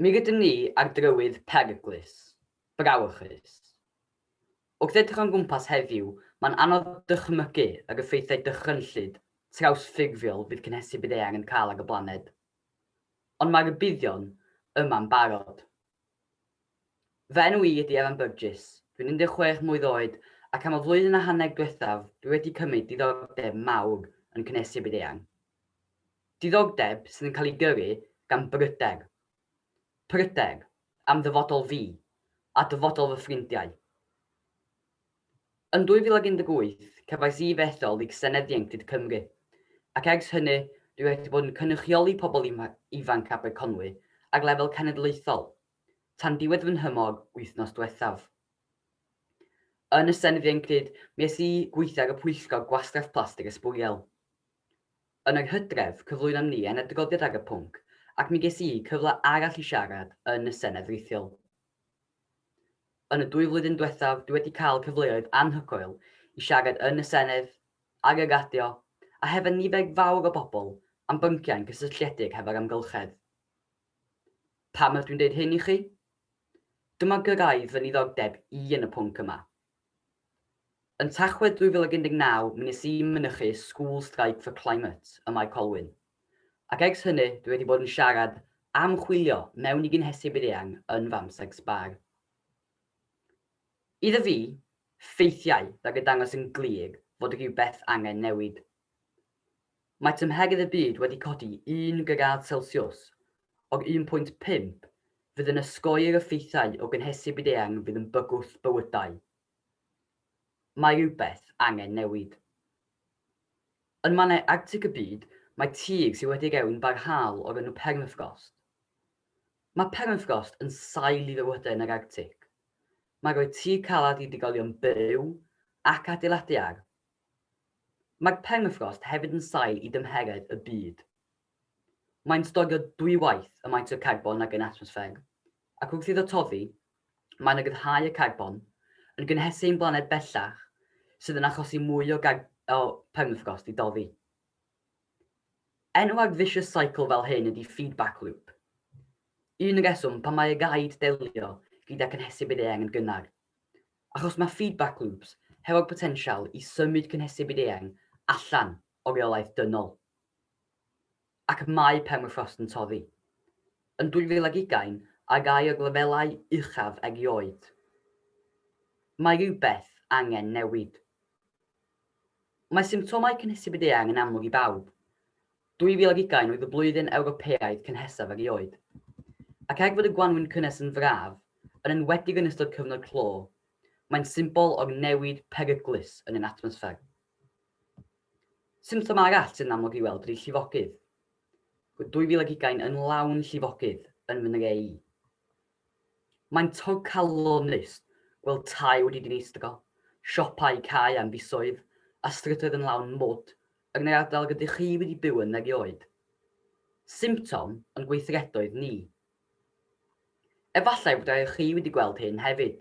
Mi rydym ni ar drywydd peryglus, brawychus. Wrth edrych o'n gwmpas heddiw, mae'n anodd dychmygu yr effeithiau dychrynllyd trawsffurfiol fydd cynhesu byd-eang yn cael ar y blaned. Ond mae rhybuddion yma'n barod. Fy enw i ydy Evan Burgess, dwi'n 16 mlwydd oed ac am y flwyddyn a hanner diwethaf dwi wedi cymryd diddordeb mawr yn cynhesu byd-eang. Diddordeb sydd yn cael ei gyrru gan bryder. Pryder am ddyfodol fi a dyfodol fy ffrindiau. Yn 2018, cefais Eve ethol i Senedd Ieuenctid Cymru, ac ers hynny dwi wedi bod yn cynrychioli pobl ifanc Aberconwy ar lefel cenedlaethol, tan diwedd fy nhymor wythnos dwethaf. Yn y Senedd Ieuenctid, mi es i gweithio ar y Pwyllgor Gwastraff Plastig a Sbwriel. Yn yr hydref, cyflwynon ni ein adroddiad ar y pwnc, ac mi ges i cyfle arall i siarad yn y Senedd Rithiol. Yn y dwy flwyddyn diwethaf, dwi wedi cael cyfleoedd anhygoel i siarad yn y Senedd, ar y radio, a hefo nifer fawr o bobl am bynciau'n cysylltiedig hefo'r amgylchedd. Pam ydw i'n dweud hyn i chi? Dyma gyrraedd fy niddordeb i yn y pwnc yma, Yn Tachwedd 2019 mi nes i mynychu School Strike for Climate ym Mae Colwyn. Ac ers hynny dwi wedi bod yn siarad am chwilio mewn i gynhesu byd-eang yn fy amser sbâr. Iddo fi, ffeithiau rhag y dangos yn glir fod rhywbeth angen newid. Mae tymheredd y byd wedi codi un gradd selsiws, o'r un pwynt pump fydd yn osgoi'r effeithiau o gynhesu byd-eang fydd yn bygwth bywydau. Mae rhywbeth angen newid. Yn mannau Arctig y byd, mae tir sydd wedi rhewyn barhaol o'r enw permafrost. Mae permafrost yn sail i fywydau yn yr Arctig. Mae'n rhoi tir caled i drigolion byw ac adeiladu ar, Mae permafrost hefyd yn sail i dymheredd y byd. Mae'n storio dwy waith y maint o garbon ag yn atmosffer, ac wrth iddo toddi, mae'n ryddhau y carbon, yn gynhesu ein blaned bellach, sydd yn achosi mwy o o permafrost i doddi. Enw ar vicious cycle fel hyn ydy feedback loop. Un reswm pam mae raid delio gyda cynhesu bydd eang yn gynnar, Achos mae feedback loops hefo'r potensial i symud cynhesu byd eang allan o reolaeth dynol. Ac mae permafrost yn toddi. Yn 2020, ar gau o'r lefelau uchaf erioed. Mae rhywbeth angen newid. Mae symptomau cynhesu byd eang yn amlwg i bawb, 2020 oedd y blwyddyn Ewropeaidd cynhesaf erioed. Ac er fod y gwanwyn cynnes yn fraf, yn enwedig yn ystod cyfnod clo, mae'n symbol o'r newid peryglus yn ein atmosffer. Symptom arall sy'n amlwg i weld ydy llifogydd. Roedd 2020 yn lawn llifogydd yn fy nre i. Mae'n torcalonnus gweld tai wedi dinistro, siopau cau am fisoedd a strydoedd yn lawn mwd yn yr ardal rydych chi wedi byw yn erioed. Symptom yn gweithredoedd ni. Efallai bod rhai o chi wedi gweld hyn hefyd,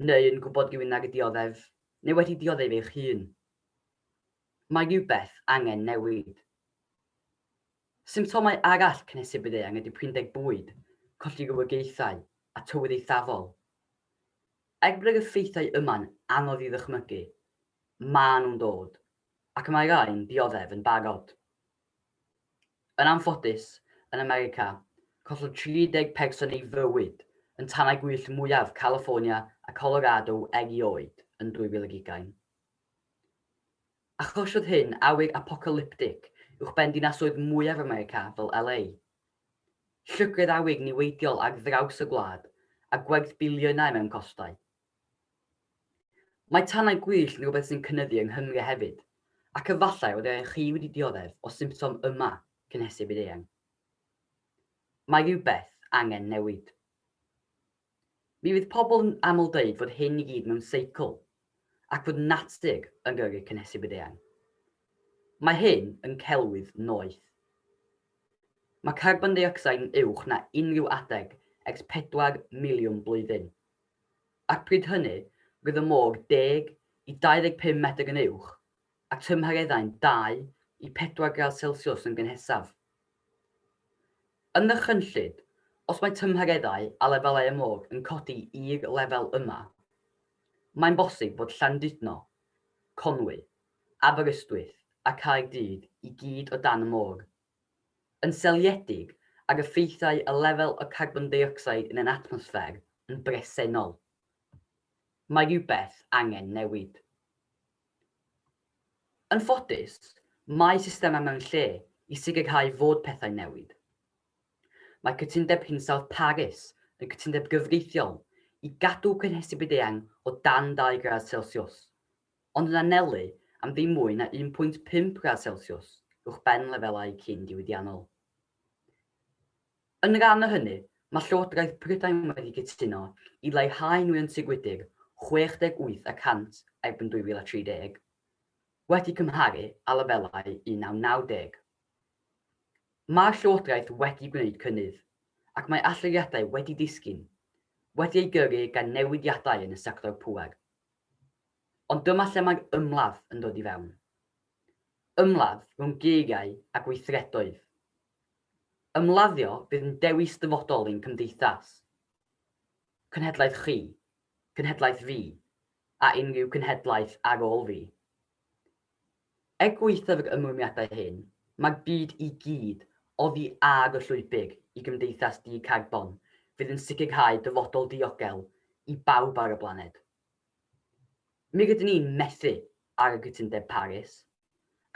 neu yn gwybod rhywun ar y dioddef, neu wedi dioddef eich hun. Mae rhywbeth angen newid. Symptomau arall cynhesu bydd eang ydy prinder bwyd, colli rhywogaethau, a tywydd eithafol. Er bod yr effeithiau yma'n anodd i ddychmygu, maen nhw'n dod, Ac mae rhai'n dioddef yn barod. Yn anffodus, yn America, collodd 30 person ei fywyd yn tanau gwyllt mwyaf California a Colorado erioed yn 2020. Achosiodd hyn awyr apocalyptig uwchben dinasoedd mwyaf America fel LA. Llygredd awyr niweidiol ar draws y gwlad a gwerth biliynau mewn costau. Mae tanau gwyllt yn rhywbeth sy'n cynyddu yng Nghymru hefyd, ac efallai y byddech chi wedi dioddef o symptom yma cynhesu byd-eang. Mae rhywbeth angen newid. Mi fydd pobl yn aml dweud fod hyn i gyd mewn seicl, ac fod natur yn gyrru cynhesu byd-eang. Mae hyn yn celwydd noeth. Mae carbon deuocsid yn uwch na unrhyw adeg ers pedwar miliwn blwyddyn. Ac pryd hynny, roedd y môr 10 i 25 metr yn uwch, a tymhereddau'n 2 i 4 gradd Celsiws yn gynhesaf. Yn ddychrynllyd, os mae tymhereddau a lefelau y môr yn codi i'r lefel yma, mae'n bosib fod Llandudno, Conwy, Aberystwyth a Caerdydd i gyd o dan y môr. Yn seiliedig ar effeithiau y lefel o carbon deuocsid yn ein atmosffer yn bresennol, mae rhywbeth angen newid. Yn ffodus, mae systemau mewn lle i sicrhau fod pethau'n newid. Mae Cytundeb Hinsawdd Paris yn cytundeb gyfreithiol i gadw cynhesu byd-eang o dan dau gradd Celsiws ond yn anelu am ddim mwy na 1.5 gradd selsiws uwchben lefelau cyn-diwydiannol. Yn rhan o hynny, mae Llywodraeth Prydain wedi cytuno i leihau nwyon tŷ gwydr 68 y cant erbyn 2030, wedi cymharu â lefelau 1990. Mae'r Llywodraeth wedi gwneud cynnydd, ac mae allyriadau wedi disgyn, wedi ei gyrru gan newidiadau yn y sector pŵer. Ond dyma lle mae ymladd yn dod i fewn. Ymladd rhwng geiriau a gweithredoedd. Ymladdio fydd yn dewis dyfodol ein cymdeithas. Cenhedlaeth chi, cenhedlaeth fi, a unrhyw cenhedlaeth ar ôl fi. Er gwaethaf yr ymrwymiadau hyn, mae'r byd i gyd oddi ar y llwybr i gymdeithas di-carbon fydd yn sicrhau dyfodol diogel i bawb ar y blaned. Mi rydyn ni'n methu ar y Cytundeb Paris,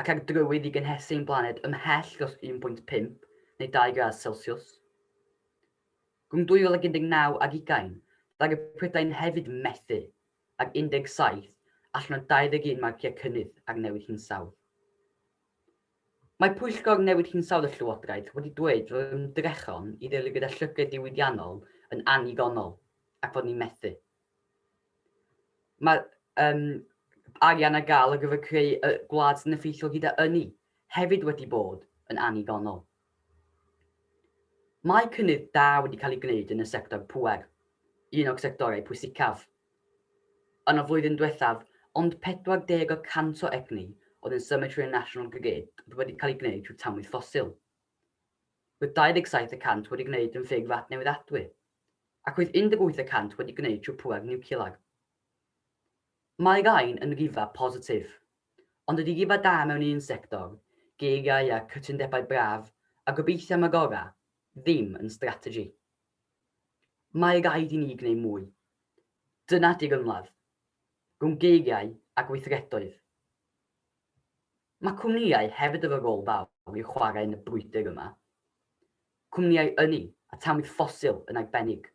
ac ar drywydd i gynhesu ein blaned ymhell dros 1.5 neu 2 gradd Celsiws. Rhwng 2019 ac ugain, ddaru Prydain hefyd methu ag 17 allan o 21 marciau cynnydd ar Newid Hinsawdd. Mae Pwyllgor Newid Hinsawdd y Llywodraeth wedi dweud fod ymdrechion i ddilyn gyda llygredd diwydiannol yn annigonol ac fod ni'n methu. Mae um, arian ar gael ar gyfer creu y gwlad sy'n effeithiol gyda ynni hefyd wedi bod yn annigonol. Mae cynnydd da wedi cael ei gwneud yn y sector pŵer, un o'r sectorau pwysicaf. Yn y flwyddyn diwethaf, ond 40 y cant o egni oedd yn symud trwy y National Grid oedd wedi cael ei gwneud trwy tanwydd ffosil. Roedd 27 y cant wedi gwneud yn ffurf adnewyddadwy, ac roedd 18 y cant wedi gwneud trwy pŵer niwclear. Mae gain yn rhyfedd positif, ond ydy rhyfedd da mewn un sector, geiriau a cytundebau braf a gobeithio am y gorau, ddim yn strategy. Mae raid i ni gwneud mwy. Dyna di'r ymladd, rhwng geiriau a gweithredoedd. Mae cwmnïau hefyd efo rôl fawr i'w chwarae yn y brwydr yma. Cwmnïau ynni a tanwydd ffosil yn arbennig.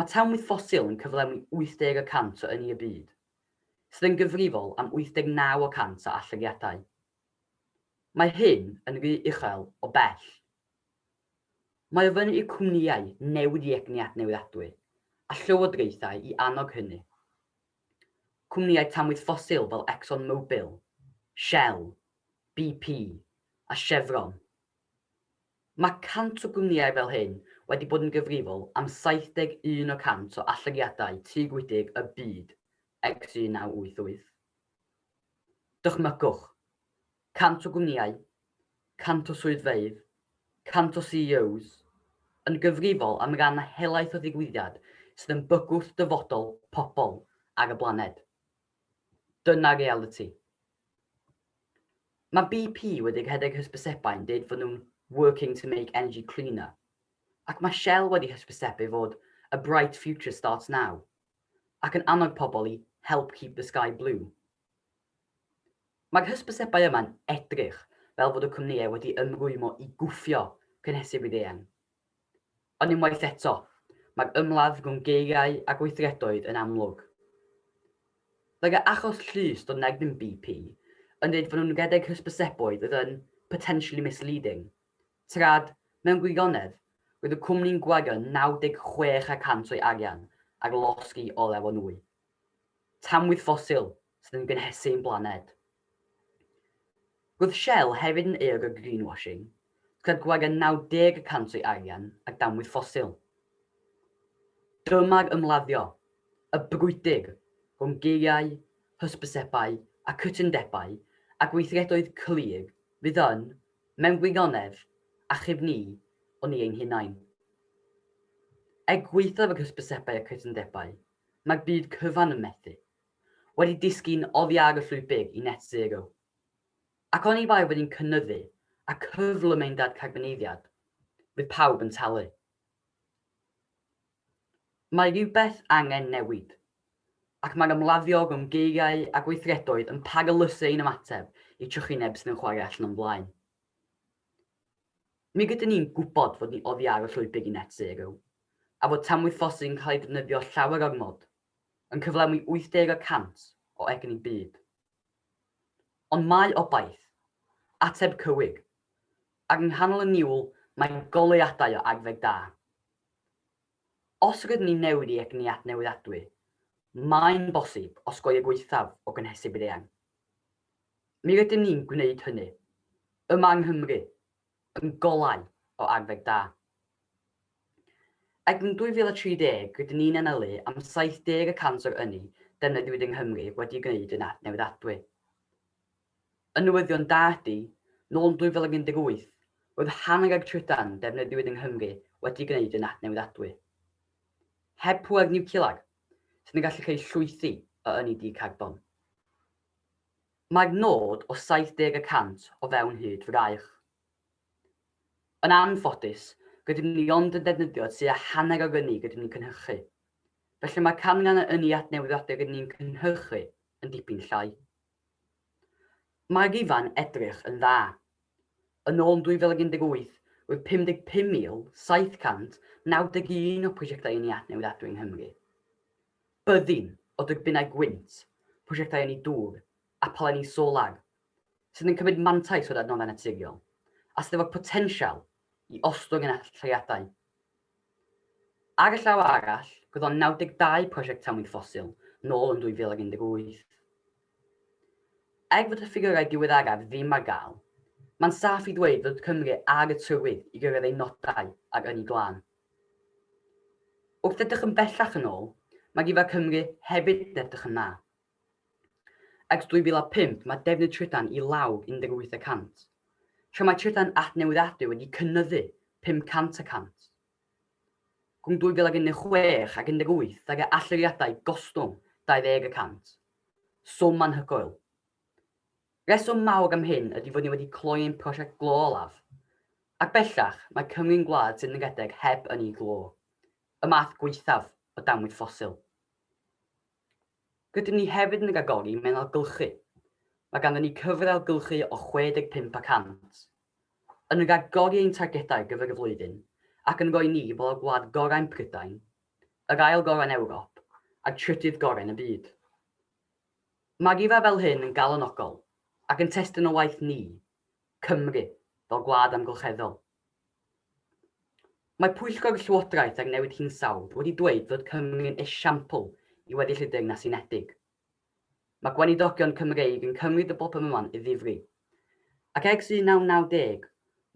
Mae tanwydd ffosil yn cyflawni 80 y cant o ynni y byd, sydd yn gyfrifol am 89 y cant o allyriadau. Mae hyn yn rhy uchel o bell. Mae ofyn i'r cwmnïau newid i egni adnewyddadwy a llywodraethau i annog hynny. Cwmnïau tanwydd ffosil fel Exxon Mobil, Shell, BP a Chevron Mae 100 o gwmnïau fel hyn wedi bod yn gyfrifol am 71 o 100 o allyriadau tŷ gwydr y byd ers 1988. Dychmygwch, 100 o gwmnïau, 100 o swyddfeydd, 100 o CEOs, yn gyfrifol am ran a helaeth o ddigwyddiad sydd yn bygwth dyfodol pobl ar y blaned. Dyna realiti. Mae BP wedi rhedeg hysbysebau'n dweud fod nhw'n working to make energy cleaner. Ac mae Shell wedi hysbysebu fod a bright future starts now. Ac yn annog pobl i help keep the sky blue. Mae'r hysbysebau yma'n edrych fel fod y cwmnïau wedi ymrwymo i gwffio cynhesu byd-eang. Ond unwaith eto, mae'r ymladd rhwng geiriau a gweithredoedd yn amlwg. Fel y achos llys dod yn erbyn BP yn dweud fod nhw'n rhedeg hysbyseboedd oedd yn 'potentially misleading', trad, mewn gwirionedd, roedd y cwmni'n gwario 96 y cant o'i arian ar losgi olew o nwy. Tamwydd ffosil, sydd yn gynhesu ein blaned. Roedd Shell hefyd yn euog o greenwashing, gyda gwag yn 90 y cant o'i arian ar damwyd ffosil. Dyma'r ymladdio, y brwydr, rhwng geiriau, hysbysebau a chytundebau ac weithredoedd clir fydd yn, mewn gwirionedd, achub ni o ni ein hunain. Er gwaethaf yr hysbysebau a'r cytundebau, mae'r byd cyfan yn methu. wedi disgyn oddi ar y llwybr i net zero. Ac oni bai fod ni'n cynyddu a cyflym ein dadcarboneiddiad, fydd pawb yn talu. Mae rhywbeth angen newid, ac mae'r ymladdio rhwng geiriau a gweithredoedd yn paralysu ein ymateb i trychineb sydd yn chwarae allan o'n blaen. Mi rydyn ni'n gwybod fod ni oddi ar y llwybr i net zero, a fod tanwythosydd yn cael ei ddefnyddio llawer ormod yn cyflenwi 80 y cant o egni byd. Ond mae obaith, ateb cywyg, ac yng nghanol y niwl mae goleuadau o agfeg da. Os rydyn ni'n newid i egni adnewyddadwy, mae'n bosib osgoi y gwaethaf o gynhesu byd-eang. Mi rydym ni'n gwneud hynny, yma yng Nghymru, yn golau o agwedd da. Ac yn 2030, rydyn ni'n anelu am 70 y cant o'r ynni defnyddiwyd yng Nghymru wedi'i gwneud yn adnewyddadwy. Y newyddion da ydy, nôl yn 2018, roedd hanner o'r trydan defnyddiwyd yng Nghymru wedi'i gwneud yn adnewyddadwy. Heb pŵer niwclear, sydd yn gallu creu llwythi o ynni di-carbon. Mae'r nod o 70 y cant o fewn hyd fraich. Yn anffodus, rydym ni ond yn defnyddio tua hanner o'r ynni rydym ni'n cynhyrchu. Felly mae'r canran o ynni adnewyddiadwy rydym ni'n cynhyrchu yn dipyn llai. Mae'r rifau'n edrych yn dda. Yn ôl 2018, roedd 55,791 o prosiectau ynni adnewid adwy yng Nghymru. Byddin o dyrbinau gwynt, prosiectau ynni dŵr a phalenni solar, sydd yn cymryd mantais o'r adnoddau naturiol, a sydd efo'r potensial i ostwng ein allyriadau Ar y llaw arall, gwyddon 92 prosiect tamwyn ffosil nôl yn 2018. Er fod y ffigyrau diweddaraf ddim ar gael, mae'n saff i ddweud fod Cymru ar y trywydd i gyrraedd ei nodau ar Ynni Glân. Wrth edrych yn bellach yn ôl, mae rhifau Cymru hefyd yn edrych yn dda. Ers 2005 mae defnydd trydan i law 18 y cant, tra mae trydan adnewyddiadwy wedi cynyddu 500 y cant. Rhwng 2016 ac 18 daeth y allyriadau gostwng 20 y cant, swm anhygoel. Rheswm mawr am hyn ydy fod ni wedi cloi ein prosiect glo olaf, ac bellach mae Cymru'n gwlad sydd yn redeg heb ynni glo, y math gwaethaf o damwaith ffosil. Rydym ni hefyd yn rhagori mewn ailgylchu. Mae ganddyn ni cyfr ailgylchu o 65 y cant. Yn rhagori ein targedau ar gyfer y flwyddyn ac yn rhoi ni fel y gwlad gorau yn Prydain, yr ail gorau yn Ewrop a'r trydydd gorau yn y byd. Mae rhifau fel hyn yn galonogol ac yn testun o waith ni, Cymru, fel gwlad amgylcheddol. Mae Pwyllgor Llywodraeth ar Newid Hinsawdd wedi dweud fod Cymru yn esiampl i weddill y Deyrnas Unedig. Mae gweinidogion Cymreig yn cymryd y broblem yma'n ddifri, ac ers 1990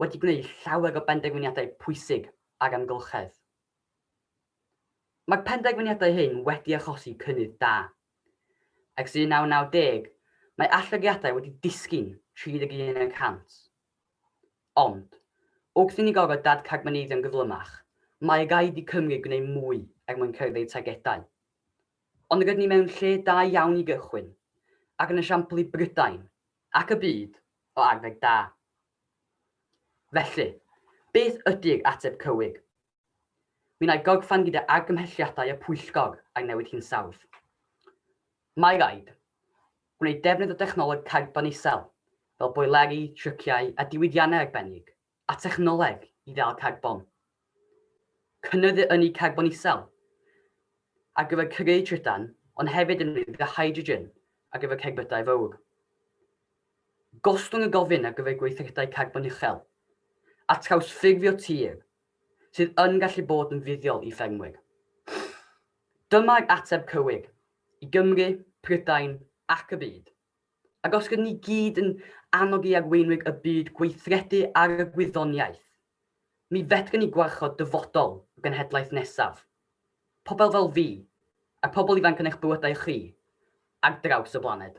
wedi gwneud llawer o benderfyniadau pwysig ar amgylchedd. Mae'r penderfyniadau hyn wedi achosi cynnydd da. Ers 1990, mae allyriadau wedi disgyn 31 y cant. Ond, wrth i ni gorfod dadcarboneiddio'n gyflymach, mae raid i Cymru gwneud mwy er mwyn cyrraedd ei targedau. Ond rydyn ni mewn lle da iawn i gychwyn, ac yn esiampl i Brydain, ac y byd, o arfer da. Felly, beth ydy'r ateb cywir? Minnau gogfan gyda argymhelliadau y pwyllgor ar newid hinsawdd. Mae raid gwneud defnydd o dechnoleg carbon isel, fel boeleri, tryciau a diwydiannau arbennig, a thechnoleg i ddal carbon. Cynyddu ynni carbon isel ar gyfer creu trydan, ond hefyd yn unig gyda hydrogen ar gyfer cerbydau fawr. Gostwng y gofyn ar gyfer gweithredau carbon uchel, a trawsffurfio tir sydd yn gallu bod yn fuddiol i ffermwyr. Dyma'r ateb cywir i Gymru, Prydain ac y byd. Ac os rydyn ni gyd yn annog i arweinwyr y byd gweithredu ar y gwyddoniaeth, mi fedrwn ni gwarchod dyfodol y genhedlaeth nesaf, pobl fel fi, a'r pobl ifanc yn eich bywydau chi, ar draws y blaned.